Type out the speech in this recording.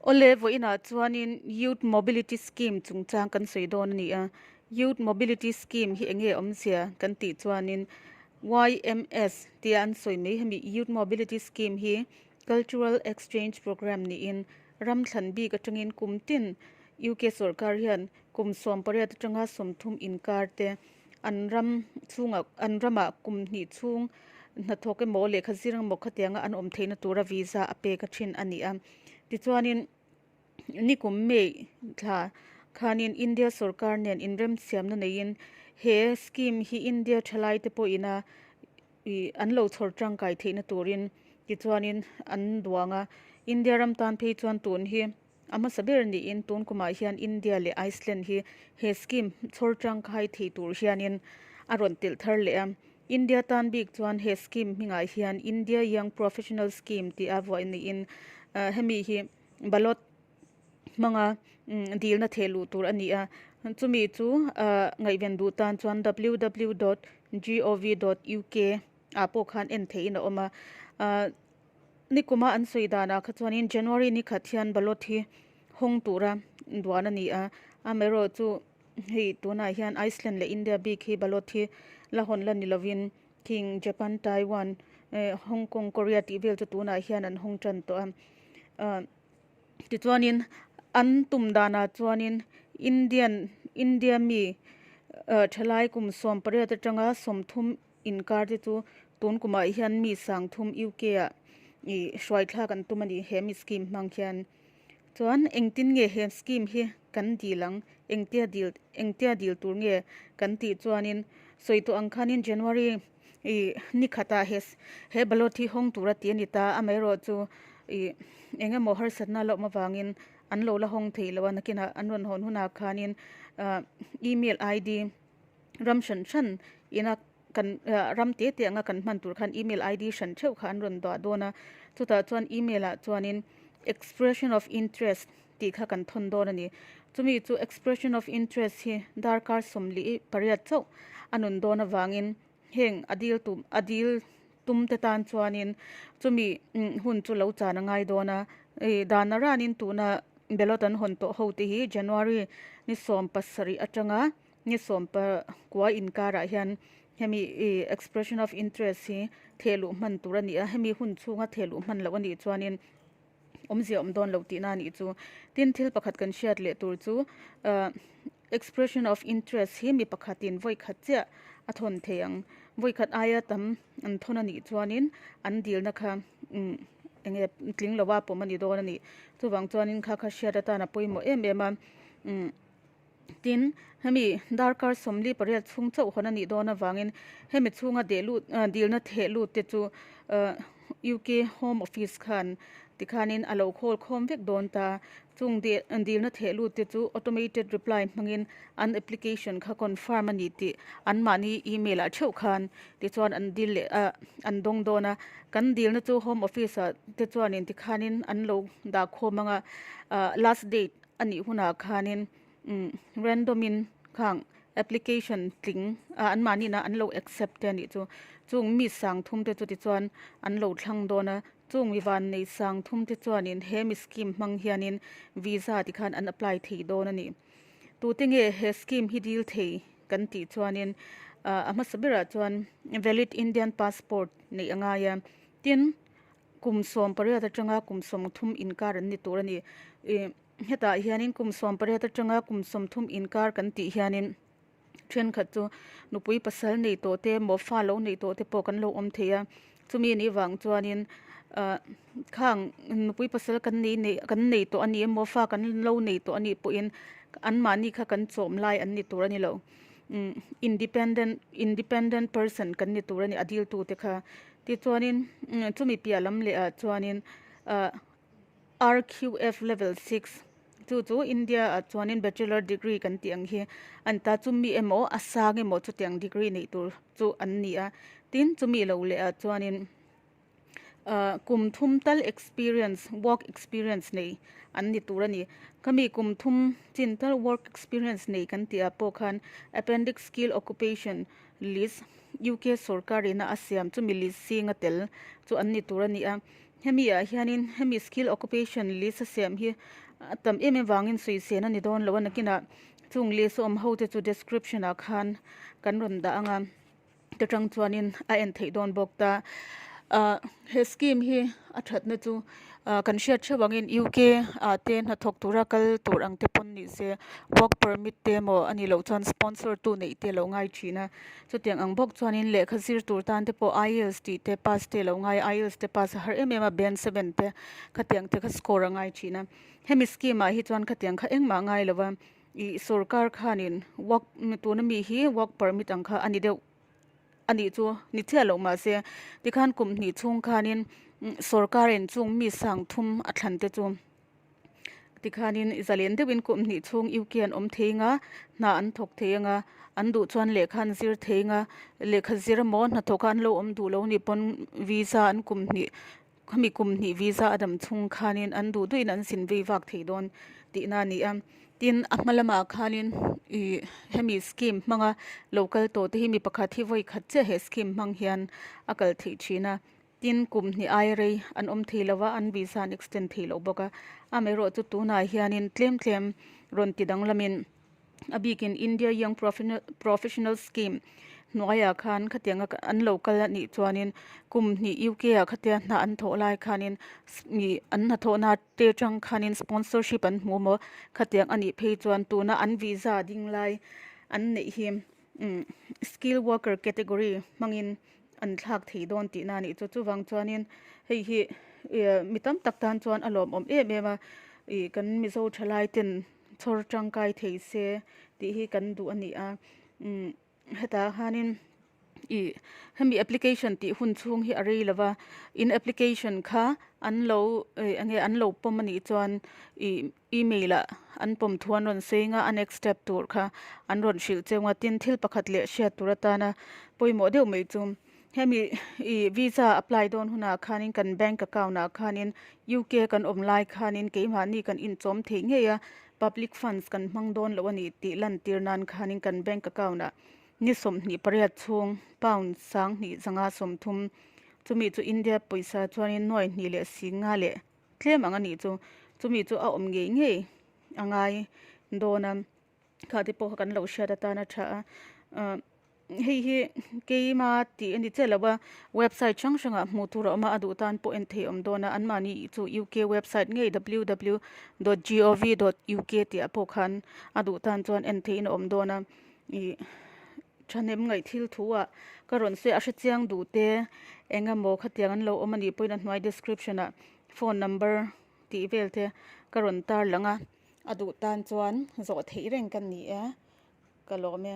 Awle vawh inah chuanin Youth Mobility Scheme chungchang kan sawi dawn a ni a, Youth Mobility Scheme hi enge awmzia kan tih chuanin YMS tia an sawi mai hemi Youth Mobility Scheme hi Cultural Exchange Programme niin ram thlan bik atangin kum tin UK sorkar hian kum sawm pariat atanga sawmthum inkar te, an ram chhungah an ramah kum hnih chhung hnathawk emaw lehkha zir emaw khatianga an awm theihna tura visa a pek a thin a ni a. Tichuanin nikum May thla khanin India sawrkar nen inremsiamna neiin he scheme hi India thalaite pawhina ih an lo chhawr tangkai theihna turin tichuanin an duang a. India ram tan phei chuan tun hi. A hmasa ber niin tun kumah hian India leh Iceland hi he scheme chhawr tangkai thei tur hianin a rawn telh thar leh a. India tan bik chuan he scheme hmingah hian India Young Professional Scheme tih a vuai niin hemi hi ballot hmanga dilna theh luh tur a ni a. Chumi chu ngaihven duh tan chuan ww dot gov dot uk ah pawh khan en theihin a awm a. Nikuma an sawi danah kha chuanin January ni khat hian ballot hi hawng tura duan a ni a. A Mero chu hei tunah hian Iceland leh India bik hi ballot hi la hawn la ni lovin King, Japan, Taiwan, Hong Kong, Korea tih vel chu tunah hian an hawng tan tawh a. Tichuanin an tum danah chuanin Indian, India mi thalai kum sawm pariat atanga sawmthum Inkarte chu tun kumah hian mi sangthum UK ah i hruaithlak an tum a ni he mi scheme hmang hian. Chuan engtin nge he scheme hi kan dil ang, engtia dil, engtia dil tur nge kan tih chuanin sawi tawh ang khanin January i ni khatah he he ballot hi hawng tur a ti a ni ta, amaherawh chu i eng emaw harsatna lawm avangin an lo la hawng thei lo a, nakinah an rawn hawn hunah khanin email ID, Ram hran hran ina kan ram te te anga kan hman tur khan email ID hran theuh kha an rawn dah dawn a, chutah chuan email ah chuanin expression of interest tih kha kan thawn dawn a ni. Chumi chu expression of interest hi darkar sawm leh pariat chauh a nun dawn avangin Heng a dil tum a dil tum te tan chuanin chumi hun chu lo chan a ngai dawn a, danah ranin tuna ballot an hawn tawh ho te hi January ni sawm pasarih atanga ni sawm pakua inkarah hian hemi expression of interest hi thehluh hman tur a ni a, hemi hun chhunga thehluh hman loh a nih chuanin awmzia awm dawn lo tihna a nih chu. Tin, thil pakhat kan hriat leh tur chu expression of interest hi mi pakhatin vawi khat chiah a thawn thei ang. Vawi khat aia tam an thawn a nih chuanin an dilna kha eng nge tling lova pawm a ni dawn a ni. Chuvang chuanin kha kha hriat atana pawimawh em em a. Tin, hemi darkar sawmli pariat chhung chauh hawn a nih dawn avangin hemi chhunga dilna theh lut te chu UK Home Office khan tikhanin a lo khawl khawm vek dawn ta. Chung dilna theh lut te chu automated reply hmangin an application kha confirm a ni tih anmahni email ah theuh khan tichuan an dil leh a an dawng dawn a. Kan dilna chu Home Office ah te chuanin tikhanin an lo dah khawm ang a, last date. Anih hunah khanin random in khang application tling ah an mahni na an lo accept te anih chu chung mi sang thum te chuti chuan an lo thlang dawn a chung mi van nei sang thum te chuanin he mi scheme hmang hianin visa ti khan an apply thei dawn ani tu te nge he scheme hi dil thei kan tih chuanin a hmasa berah chuan valid indian passport neih a ngai a tin Kum sawm pariat atanga kum sawm thum inkar an ni tur a ni. Hetah hianin kum sawm pariat atanga kum sawm thum inkar kan tih hianin thenkhat chu nupui pasal nei tawh te, mawhfa lo nei tawh te pawh kan lo awm thei a. Chumi ni vang chuanin ah khang nupui pasal kan nei nei kan nei tawh a ni, mawhfa kan lo nei tawh a nih pawhin anmahni kha kan chawm lai an ni tur a ni lo. independent independent person kan ni tur a ni a deal tu te kha tichuanin chumi piah lam leh ah chuanin ahh rqf level six chu chu India ah chuanin bachelor degree kan tih ang hi a ni ta chumi emaw a sang emaw chutiang degree neih tur chu an ni a tin chumi lo leh ah chuanin-- Kum thum tal experience work experience nei an ni tur a ni. Khami kum thum chin tal work experience nei kan tih ah pawh khan appendix skill occupation list UK sorkar in a siam chumi list sing a tel chu an ni tur a ni a. Hemi ah hian in hemi skill occupation list a siam hi a tam em em vang in suisen a ni dawn lo a nakin ah chung list a awm ho te chu description ah khan kan rawn dah ang a. Ka tang chuanin a en theih dawn bawk ta. He scheme hi a thatna chu kan hriat theuh angin UK ah te hnathawk tura kal tur ang te pawn ni se, work permit te emaw a nih loh chuan sponsor tu neih te lo ngai thin a. Chutiang ang bawk chuanin lehkha zir tur tan te pawh IELTS tih te pass te lo ngai a, IELTS te pass a har em em a, band seven te khatiang te kha score a ngai thin a. Hemi scheme ah hi chuan khatiang kha engmah a ngai lo va. I sorkar khan in work tuna mi hi work permit ang kha ani deuh anih chu ni chiah loh mah se tikhan kum hnih chhung khan in sorkar in chung mi sang thum a thlan te chu tikhan in zalen deuh in kum hnih chhung U K an awm thei anga hna an thawk thei anga an duh chuan lehkha an zir thei anga lehkha zir maw hna thawk a an lo awm duh lo ni pawn visa an kum hnih Khami kum hnih visa a dam chung khanin an duh duhin an sin vei vak thei dawn tihna a ni a. Tin, a hma lamah khanin hemi scheme hmanga lo kal tawh te hi mi pakhat hi vawi khat chiah he scheme hmang hian a kal theih thin a. Tin, kum hnih ai rei an awm thei lo a, an visa an extend thei loh bawk a. Amaherawhchu tunah hianin tlem tlem rawn ti danglamin, A bikin India Young Professionals Scheme hnuaiah khan khatianga an lo kal a nih chuanin kum hnih UK-ah khatia hna an thawh lai khanin an hnathawhna ate atang khanin sponsorship an hmu maw khatiang a nih phei chuan tuna an visa a ding lai an neih hi skilled worker category hmangin an thlak thei dawn tihna a nih chu. Chuvang chuanin hei hi mi tam tak tan chuan a lawmawm em em a, kan Mizo tha laiten. chhawr tangkai theih se tih hi kan duh a ni a hetah khanin ih hemi application tih hun chhung hi a rei lova in application kha an lo ih enge an lo pawm a nih chuan ih email ah an pawm thu an rawn sawiin a a next step tur kha an rawn hrilh cheu a tin thil pakhat leh hriat tur atana pawimawh deuh mai chu-- Hemi i visa apply dawn hunah khanin kan bank account ah khanin UK a kan awm lai khanin keimahni kan inchawm theih ngei a, public funds kan hmang dawn loh a ni tih lantir nan khanin kan bank account ah ni sawmhnih pariat chhung pound sanghnih zanga sawmthum chumi chu India pawisa chuanin nuai hnih leh sing nga leh tlem ang a nih chu chumi chu a awm ngei ngei a ngai dawn a. kha te pawh kan lo hriat atan a tha a hei hi keima tih a ni chiah lova website hrang hrang ah hmuh tur a awm a a duh tan pawh en thei awm dawn a an mahni chu u k website ngei ww dot g o v dot u k tih ah pawh khan a duh tan chuan en thei in a awm dawn a ih thahnem ngaihthil thu ah ka rawn sawi a a hrechiang duh te eng emaw khatiang an lo awm a nih pawhin a hnuai description ah phone number tih vel te ka rawn tar lang a. A duh tan chuan zawh theih reng ka ni e, ka lawm e.